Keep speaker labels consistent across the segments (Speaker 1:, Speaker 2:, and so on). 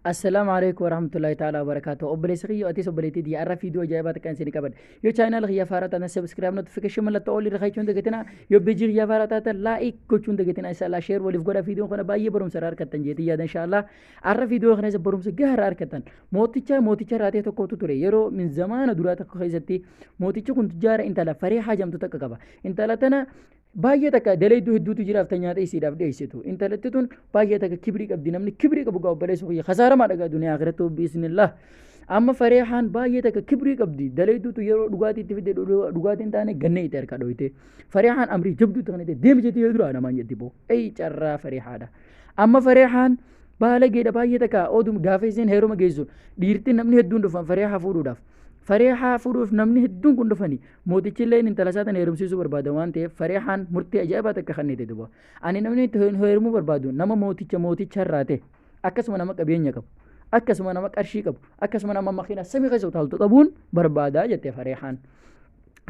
Speaker 1: Assalaamu alaikum warahmatullahi ta'ala wabarakatuh. Obboleessa kiyya atis obboleettii diya irra fiidiyoo ajaa'ibaa takka isin qabadha. Yoo chaayinaal kiyya faaraa taatan subscribe notification mallattoo olii irra kaa'achuun dagatina. Yoo bejii kiyya faaraa taatan like gochuun dagatina. Inshallah share waliif godha fiidiyoon kana baay'ee barumsa irraa argattan jeetii yaada inshallah. Arra fiidiyoo kana isa barumsa gahaa irraa argattan. Mooticha mooticha irraa ta'e tokkotu ture. Yeroo min zamaana duraa tokko keessatti mootichi kun tujjaara intala faree haajamtu takka qaba. Intala tana Baay'ee takka dalayduu hedduutu jiraaf ta nyaata isiidhaaf dhiyeessitu. Intalatti tun baay'ee takka kibrii qabdi namni kibrii qabu gaa obboleessa kiyya kasaaramaa dhagaa duniyaa akhiratti hubbi isnillah. Amma fareehaan baay'ee takka kibrii qabdi dalayduutu yeroo dhugaatii itti fidde dhudhu- dhugaatii hin taane gannee itti harka dhoyte. Fareehaan amrii jabduu itti kanate deemi jettee yoo duraa namaan jetti boo. Eyi carraa fareehaadha. Amma fareehaan baalageedha baay'ee takka oduu gaafa isiin heeruma geessu dhiirti namni hedduun dhufan fareehaa fuudhuudhaaf. Fareehaa fuudhuuf namni hedduun kun dhufanii Mootichillee intala isaa tana heerumsiisuu barbaada waan ta'eef Farihaan murtee ajaa'ibaa takka kennite duba. Ani namni itti heerumuu barbaadu nama mooticha mooticha irraa ta'e akkasuma nama qabeenya qabu akkasuma nama qarshii qabu akkasuma nama makiina samii keessa utaaltu qabuun barbaada jette Farihaan.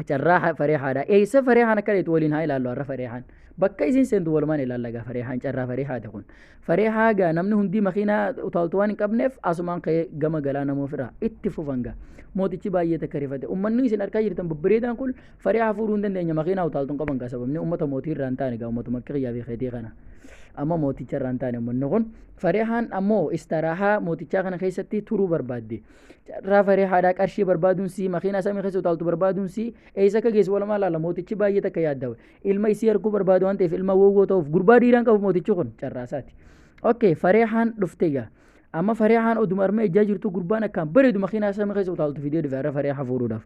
Speaker 1: Carraa Farihaadha. Eessa Farihaan akka deetu waliin haa ilaallu har'a Farihaan. Bakka isiin seentu walumaan ilaalla egaa Farihaan carraa Farihaati kun. Faree haagaa namni hundii makiinaa utaaltu waan hin qabneef asumaan ka'ee gama galaa namoo fira itti fufan gaa. Mootichi baay'ee takka rifate. Uummanni isin harkaa jirtan babbareedaan kun faree hafuuruu hin dandeenye makiinaa utaaltu hin qaban gaa sababni uummata mootii irraa hin taane gaa uummatuma akka kiyyaa fi keetii kana. Amma mooticha irraa hin taane uummanni kun fareehaan ammoo istaraahaa mootichaa kana keessatti turuu barbaadde. Carraa faree haadhaa qarshii barbaaduun sii makiinaa samii keessa utaaltu barbaaduun sii eessa akka geessu walumaa laala mootichi baay'ee takka yaaddawe. ilma isii arguu barbaadu waan ta'eef ilma woowwoo ta'uuf gurbaa dhiiraan qabu mootichi kun carraasaati. Okay fareehaan dhufte gaa. Amma fareehaan oduma armee ijaa jirtu gurbaan akkaan bareedu makiinaa samii keessa utaaltu fidee dhufe har'a fareehaa fuudhuudhaaf.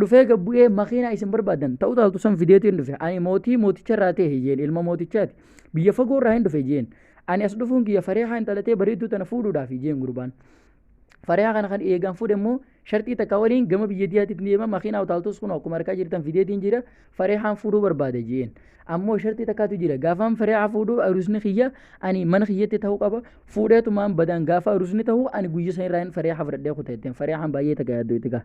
Speaker 1: Dhufee gad bu'ee makiinaa isin barbaadan ta'u utaaltu san fideetiin dhufe ani mootii mooticha irraa ta'e hiyyeen ilma mootichaati biyya fagoo irraa hin dhufe jeen ani as dhufuun kiyya fareehaa hin dhalatee bareedduu tana fuudhuudhaaf jeen gurbaan. Fariyaa kana kan eegaan fuudhe immoo sharxii takka waliin gama biyya diyaatiif ni deema makiinaa utaaltus kun akkuma harkaa jirtan fideetiin jira farihaan fuudhuu barbaada jeen ammoo sharxii takkaatu jira gaafaan fariyaa fuudhuu arusni kiyya ani mana kiyyatti ta'uu qaba fuudheetumaan badaan gaafa arusni ta'uu ani guyya san irraa fariyaa hafradhee kuta jetteen fariyahaan baay'ee takka yaaddoo itti gaa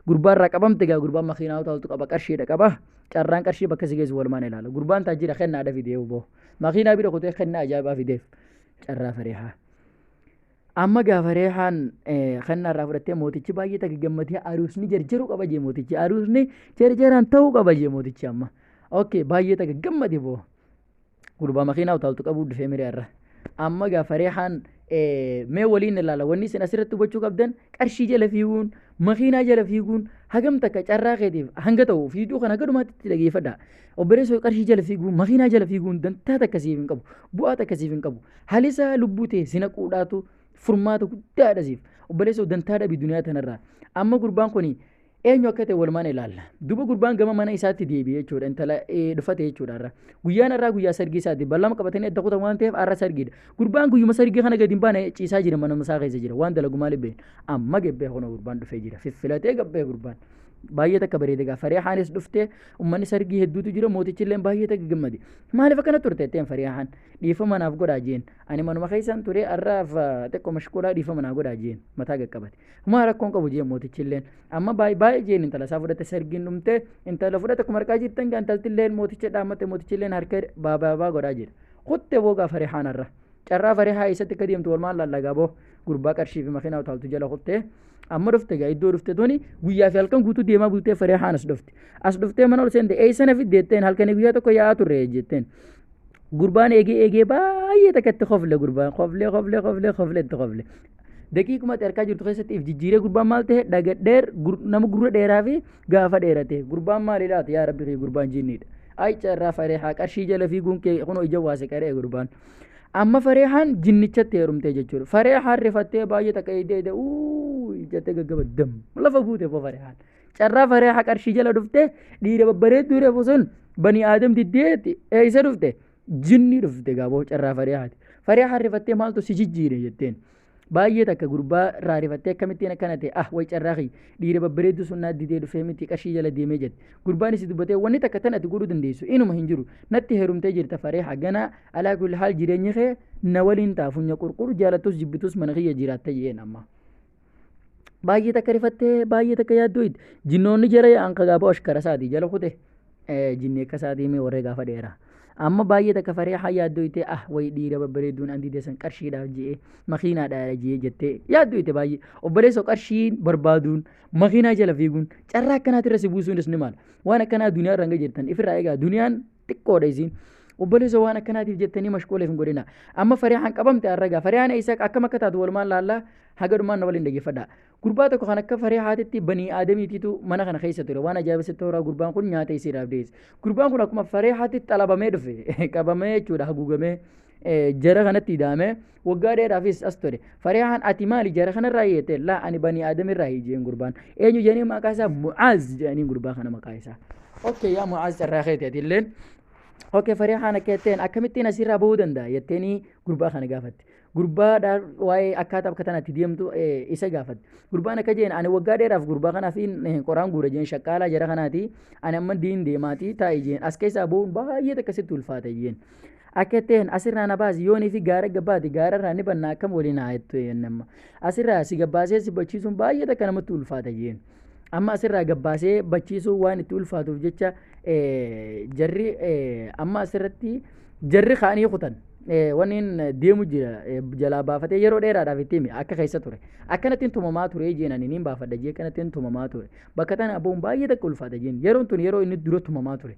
Speaker 1: gurbaa irraa qabamte gaa gurbaan makiinaa utaaltu qaba qarshiidha qaba carraan qarshii bakka si geessu walumaan ilaala gurbaan taajira kennaadha fidee boo makiinaa bira kutee kennaa ajaa'ibaa fideef carraa fariyaa. Amma gaafa reehaan kennaa irraa fudhattee mootichi baay'ee takka gammadee aruusni jarjaruu qaba jee mootichi aruusni jarjaraan ta'uu qaba jee mootichi amma. Okkee baay'ee takka gammade boo. Gurbaa makiinaa utaaltu qabuu dhufee miree irra. Amma gaafa reehaan mee waliin ilaala wanni isin asirratti hubachuu qabdan qarshii jala fiiguun makiinaa jala fiiguun hagam takka carraa keetiif hanga ta'u fiiduu kana gadumaatti itti dhageeffadha. Obboleessoo qarshii jala fiiguun makiinaa jala fiiguun dantaa takka siif hin qabu bu'aa takka siif hin qabu. Halisaa lubbuu tee si naquudhaatu furmaata guddaadha siif. Obboleessa dantaa dhabi duniyaa tanarraa. Amma gurbaan kun eenyu akka ta'e walumaan ilaalla. Duba gurbaan gama mana isaatti deebi'e jechuudha. Intala eh, dhufate jechuudha irra. Guyyaan irraa guyyaa sargii isaati. Ballama qabatanii adda kutan waan ta'eef har'a sargiidha. Gurbaan guyyuma sargii kana gadi hin baane ciisaa jira mana isaa keessa jira. Waan dalagu maaliif beekna. Amma gabbee kana gurbaan dhufee jira. Fiffilatee gabbee gurbaan. baay'ee takka bareeda gaa fariihaanis dhuftee ummanni sargii hedduutu jira mootichi illee baay'ee takka gammade maaliif akkana turte jetteen fariihaan dhiifama naaf godhaa jeen ani manuma keessan ture har'aaf xiqqoo mashquulaa dhiifama naa godhaa jeen mataa gaqqabate humaa rakkoon qabu jeen mootichi illeen amma baay'ee baay'ee jeen intala isaa fudhate sargiin dhumte intala fudhate akkuma harkaa jirtan gaa intalti illeen mooticha dhaammate mootichi illeen harka baabaa godhaa jira kutte boo gaa farihaan har'a carraa farihaa eessatti akka deemtu walumaan lallagaa boo gurbaa qarshii fi makiinaa utaaltu jala kuttee amma dhufte egaa iddoo dhufte tuni guyyaa fi halkan guutuu deemaa bultee faree haan as dhufte as dhuftee mana ol seente eeysana fiddeetteen halkanii guyyaa tokko yaa'aa turre jetteen gurbaan eegee eegee baay'ee takka itti kofle gurbaan koflee koflee koflee koflee itti kofle daqiiquma itti harkaa jirtu keessatti if jijjiiree gurbaan maal ta'e dhaga dheer gur- nama gurra dheeraa fi gaafa dheerate gurbaan maal ilaata yaa rabbi kee gurbaan jinniidha ayicha irraa faree haa qarshii jala fiiguun kee kunoo ija waase qaree gurbaan Amma Fareehaan jinnichatti heerumtee jechuudha. Fareehaan rifattee baay'ee takka eegdee eegdee uuu jettee gaggabaddamu. Lafa guute boo Fareehaan. Carraa Fareehaa qarshii jala dhuftee dhiira babbareedduu reefu sun banii aadam diddeetti eessa dhufte? Jinnii dhufte gaaboo carraa Fareehaati. Fareehaan rifattee maaltu si jijjiire jetteen. Baay'ee takka gurbaa irraa rifattee akkamittiin akkana ta'e ah way carraa kiyya dhiira babbareedduu sun naa didee dhufee miti qarshii jala deemee jette gurbaanis dubbatee wanni takka tan ati godhuu dandeessu inuma hin jiru natti heerumtee jirta faree haganaa alaa kulli haal jireenyi kee na waliin ta'a funya qurqur jaalattus jibbitus mana kiyya jiraatta jedheen amma. Baay'ee takka rifattee baay'ee takka yaaddooyid jinnoonni jara yaa'an kagaaboo ashkara isaati jala kute jinni akka isaatii mee warree gaafa dheera amma baay'ee takka faree haa yaaddoo itee ah wayi dhiira babbareedduun andi deessan qarshiidhaaf je'ee makiinaadhaadha je'ee jettee yaaddoo ite baay'ee obboleessoo qarshiin barbaaduun makiinaa jala fiiguun carraa akkanaati irra si buusuunis ni maala waan akkanaa duniyaa irra hanga jirtan ifirraa egaa duniyaan xiqqoodha isiin obboleessoo waan akkanaatiif jettanii mashquuleef hin godhina amma fariyaan qabamte arragaa fariyaan eessa akkam akka taatu walumaan laallaa haga dhumaan na waliin dhaggeeffadhaa Gurbaa tokko kan akka faree haatitti banii aadamiitiitu mana kana keessa ture. Waan ajaa'iba sitti horaa gurbaan kun nyaata isiidhaaf dhiyeesse. Gurbaan kun akkuma faree haatitti xalabamee dhufe qabamee jechuudha haguugamee jara kanatti hidhaamee waggaa dheeraafis as ture. Faree haan ati maali jara kanarraa hiyyate laa ani banii aadamirraa hiyyeen gurbaan. Eenyu jedhanii maqaa isaa Mu'aaz jedhanii gurbaa kana maqaa isaa. Okkee yaa Mu'aaz carraa keeti ati illeen. Okkee faree haan akka jetteen akkamittiin asirraa bahuu danda'a jetteenii gurbaa kana gaafatte. gurbaadhaan waa'ee akkaataa bakka tanatti deemtu eh, isa gaafate. Gurbaan akka jeen ani waggaa dheeraaf gurbaa kanaaf hin eh, qoraan guura jeen shaqqaalaa jara kanaati ani amma diin deemaati taa'e jeen as keessaa ba'uun baay'ee takka sitti ulfaata jeen. Akka ta'een asirraa na baasi yoonii fi gaara gabbaati gaara irraa ni bannaa akkam waliin haa jettu jeen amma. Asirraa si gabbaasee si bachiisuun baay'ee takka namatti ulfaata jeen. Amma asirraa gabbaasee bachiisuun waan itti ulfaatuuf jecha jarri amma asirratti jarri kaanii kutan waniin deemu jira jalaa baafatee yeroo dheeraadhaaf itti himi akka keessa ture akkanattiin tumamaa ture jeenan niin baafadha jee akkanattiin tumamaa ture bakka tana abboon baay'ee takka ulfaata jeen yeroon tun yeroo inni dura tumamaa ture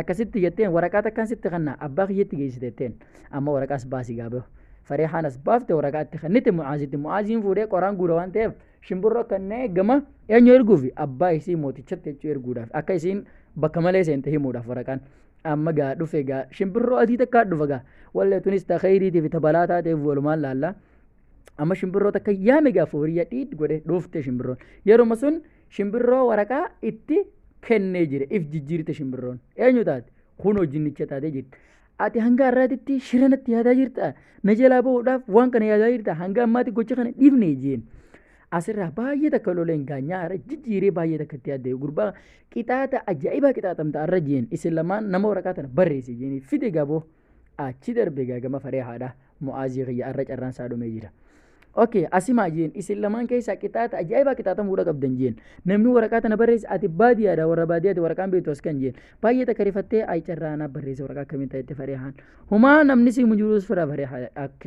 Speaker 1: akkasitti jetteen waraqaa takkaan sitti kanna abbaa kiyyatti geessiteetteen amma waraqaas baasii gaabeehu fareehaanas baafte waraqaatti kennite mucaazitti mucaaziin fuudhee qoraan guura waan ta'eef Shimbirroo kannee gama eenyu erguufi abbaa isii mootichatti jechuu erguudhaaf akka isiin bakka malee seente himuudhaaf waraqaan. Amma gaa dhufe gaa shimbirroo adii takkaa dhufa gaa wallee tunis ta kheyriitiif ta balaa taateef walumaan laalla. Amma shimbirroo takka yaame gaa fooriyya dhiid godhe dhufte shimbirroon. Yeruma sun shimbirroo waraqaa itti kennee jira if jijjiirte shimbirroon. Eenyu taate? Kunoo jinnicha taatee jirti. Ati hanga har'aatitti shira natti yaadaa jirta. Na jalaa bahuudhaaf waan kana yaadaa jirta. Hanga ammaatti gocha kana dhiifne jeen. Asirraa baay'ee takka loleen gaanyaa har'a jijjiiree baay'ee takka itti yaadde gurbaa qixaata ajaa'ibaa qixaatamta har'a jeen isin lamaan nama waraqaa tana barreesse jeen fide gaboo achi darbe gaagama faree haadha mo'aazii kiyya har'a carraan isaa dhumee jira. ok asimaa jeen isin lamaan keessaa qixaata ajaa'ibaa qixaatamuudha qabdan jeen namni waraqaa tana barreesse ati baadiyaadha warra baadiyaati waraqaan beektu as kan jeen baay'ee takka rifattee ayi carraa anaa barreesse waraqaa akkamiin ta'etti farihaan humaa namni si mujuus fira farihaa ok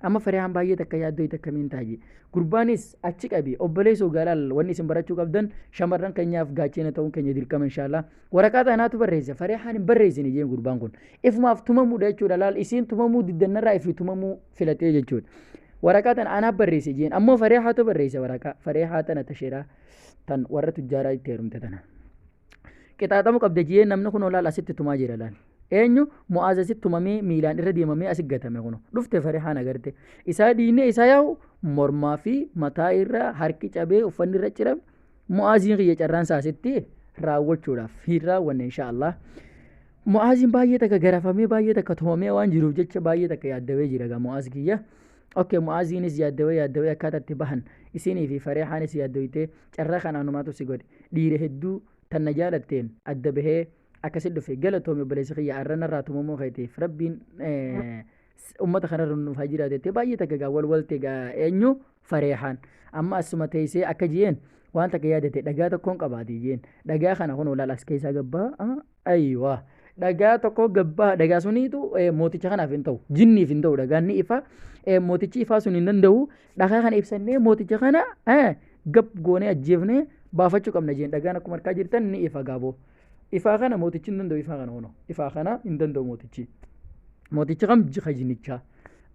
Speaker 1: amma farihaan baay'ee takka yaaddoo itti akkamiin taa'e gurbaanis achi qabi obboleessoo gaalaal wanni isin barachuu qabdan shamarran keenyaaf gaachena ta'uun keenya dirqama inshaallah waraqaa tanaatu barreesse farihaan hin barreessine jeen gurbaan kun ifumaaf tumamuudha jechuudha laal isiin tumamuu diddannarraa ifi tumamuu filatee jechuudha. Waraqaa tana anaaf barreesse jeen ammoo fareehaatu barreesse waraqaa fareehaa tana tasheeraa tan warra tujjaaraa itti heerumte tana. Qixaaxamu qabda jeen namni kun olaal asitti tumaa jira laal. Eenyu mu'aaza asitti tumamee miilaan irra deemamee asi gatame kun dhufte fareehaan agarte isaa diinee isaa yaa'u mormaa fi mataa irra harki cabee uffanni irra cirame Mu'aaziin kiyya carraan isaa asitti raawwachuudhaaf hin raawwanne insha Allah. Mu'aaziin baay'ee takka garafamee baay'ee takka tumamee waan jiruuf jecha baay'ee takka yaaddawee jira gaa Mu'aaz kiyya. Okkee Mu'aaziinis yaaddawee yaaddawee akkaataa itti bahan isinii fi Fareehaanis yaaddoytee carraa kan anumaatu si godhe dhiira hedduu tan na jaalatteen adda bahee akkasi dhufe galatoomi obboleessi kiyya arrana irraa tumamuu keetiif rabbiin ummata kanarra nuuf haa jiraatu jettee baay'ee takka egaa wal walte egaa eenyu fareehaan amma asuma teessee akka jeen waan takka yaadate dhagaa tokkoon qabaate jeen dhagaa kana kun olaal as keessaa gabbaa ayiwa dhagaa tokko gabbaa dhagaa suniitu eh, mooticha kanaaf hin ta'u jinniif hin ta'u dhagaan ni ifa eh, mootichi ifaa sun hin danda'u dhagaa kana ibsannee mooticha kana eh, gab goonee ajjeefnee baafachuu qabna jeen dhagaan akkuma harkaa jirtan ni ifa gaaboo. Ifaa kana mootichi hin danda'u ifaa kana hono. Ifaa kana hin danda'u mootichi. Mootichi kam jika jinnichaa.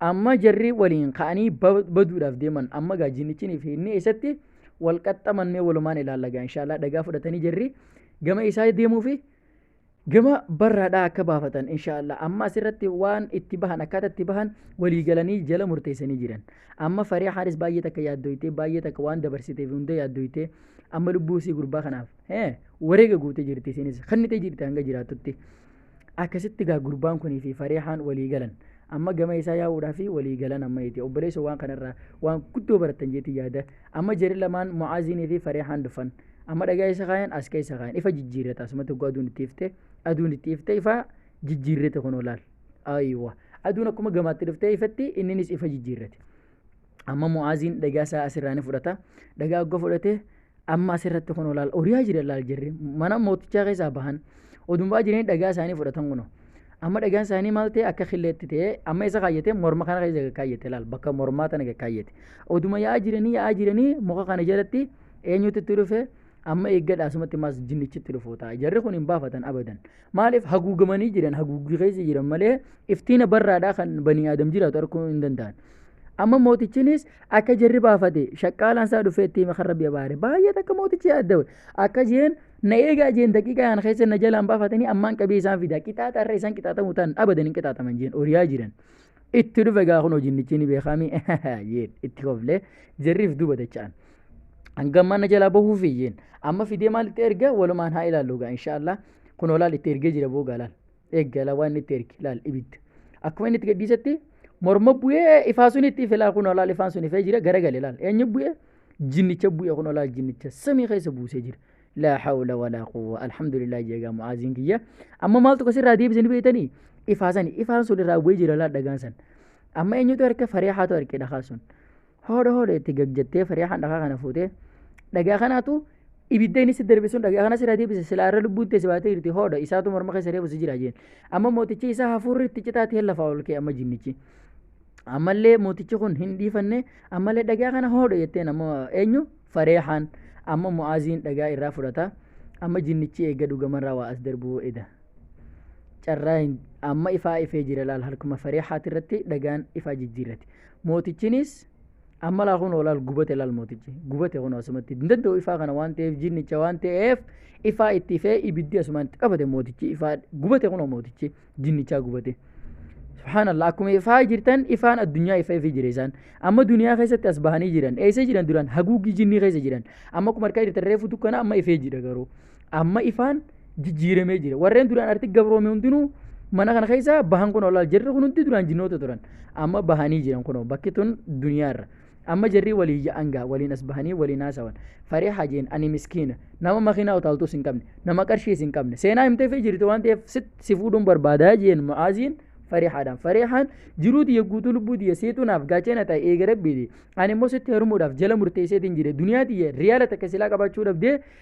Speaker 1: Amma jarri waliin ka'anii ba- baduudhaaf deeman amma gaa jinnichinii fi inni eessatti wal qaxxaman mee walumaan ilaalla gaa inshaallah dhagaa fudhatanii jarri gama isaa deemuu fi gama barraadhaa akka baafatan inshaallah amma asirratti waan itti bahan akkaataa itti bahan walii galanii jala murteessanii jiran amma faree haaris baay'ee takka yaaddoytee baay'ee takka waan dabarsiteef hunda yaaddoytee amma lubbuu isii gurbaa kanaaf Eh, wareega gootee jirti isiinis kennitee jirti hanga jiraattutti akkasitti gaa gurbaan kunii fi farihaan walii galan amma gama isaa yaa'uudhaa fi walii galan amma jeeti obboleessa waan kanarraa waan guddoo baratan jeeti yaada amma jeri lamaan mu'aaziinii fi farihaan dhufan amma dhagaa isa kaayan as keessa kaayan ifa jijjiirrata asumatti oguu aduun itti ifte aduun itti ifte ifa jijjiirrate kunoo laal ayiwa aduun akkuma gamaatti dhuftee ifatti inninis ifa jijjiirrate amma mu'aaziin dhagaa isaa asirraa ni fudhata dhagaa ogga fudhate amma asirratti kun olaal oriyaa jira laal jirri mana mootichaa keessaa bahan odumbaa jiranii dhagaa isaanii fudhatan kuno amma dhagaan isaanii maal ta'e akka killeetti ta'e amma isa kaayyate morma kana keessa kaayyate laal bakka mormaa tana kaayyate oduma yaa'aa jiranii yaa'aa jiranii muka kana jalatti eenyutu itti dhufe amma eeggadha asumatti maas jinnichitti dhufuu ta'a jarri kun hin baafatan abadan maaliif haguugamanii jiran haguuggii keessa jiran malee iftiina barraadhaa kan banii aadam jiraatu arguu hin danda'an Amma mootichinis akka jarri baafate shaqqaalaan isaa dhufee itti hime kan rabbi abaare. Baay'ee takka mootichi yaaddawe. Akka jeen na eegaa jeen daqiiqaa kana keessa na jalaan baafatanii ammaan qabee isaan fida. Qixaaxa irra isaan qixaaxamu ta'an abadan hin qixaaxaman jeen oriyaa jiran. Itti dhufe gaa kun hojinnichi ni beekaami jeen itti koflee jarriif duuba dacha'an. Hangammaa na jalaa bahuufi jeen. Amma fidee maal itti erga walumaan haa ilaallu gaa inshaallah. Kun olaal itti ergee jira boogaa laal. eeggala waan itti ergi laal ibidda akkuma inni itti gadhiisetti morma bu'ee ifaa sun itti ife laal kunoo laal ifaan sun ifee jira garagale laal eenyu bu'ee jinnicha bu'ee kunoo laal jinnicha samii keessa buusee jira laa hawla walaa quwwa alhamdulillah jeegaa mu'aaziin kiyya amma maaltu kasirraa deebisanii beektanii ifaa sani ifaan sun irraa bu'ee jira laal dhagaan san amma eenyutu harka faree haatu harkee dhagaa sun Hoodha hoodha itti gagjattee fariyahaan dhagaa kana fuutee dhagaa kanaatu ibidda inni si darbe sun dhagaa kana sirra deebise silaa irra lubbuun teessi baatee jirti hoodha isaatu morma keessa reefu si jira jeen amma mootichi isaa hafuurri itti citaati hin lafaa ol kee amma jinnichi ammallee mootichi kun hin dhiifanne ammallee dhagaa kana hoodha jetteen amma eenyu fareehaan amma mu'aaziin dhagaa irraa fudhata amma jinnichi eega dhugamarraa waa as darbuu eda carraa hin- amma ifaa ifee jira laal harkuma fareehaati irratti dhagaan ifaa jijjiirrati Mootichinis amma laa kunoo laal gubate laal mootichi gubate kunoo asumatti hin danda'u ifaa kana waan ta'eef jinnicha waan ta'eef ifaa itti ifee ibiddi asumaan itti qabate mootichi ifaa gubate kunoo mootichi jinnichaa gubate. Subhaanallah akkuma ifaa jirtan ifaan addunyaa ifaa ifii jira isaan amma duniyaa keessatti as bahanii jiran eessa jiran duraan haguuggii jinnii keessa jiran amma akkuma harkaa jirtan reefu dukkana amma ifee jira garuu. amma ifaan jijjiiramee jira warreen duraan arti gabroome hundinuu mana kana keessa bahan kun olaal jirri kun hundi duraan jinnoota turan amma bahanii jiran kun bakki tun duniyaarra amma jirri walii ya'an gaa waliin as bahanii waliin haasawan faree hajeen ani miskiina nama makiinaa utaaltuus hin qabne nama qarshiis hin qabne seenaa himtee fi jirti waan ta'eef sit si fuudhuun barbaadaa jeen ma'aaziin farihaadhaan farihaan jiruu tiyya guutuu lubbuu tiyya seetuu naaf gaachena ta'e eega rabbiiti ani immoo sitti herumuudhaaf jala murteesseetiin jire duniyaa tiyya riyaala takka silaa qabaachuu dhabdee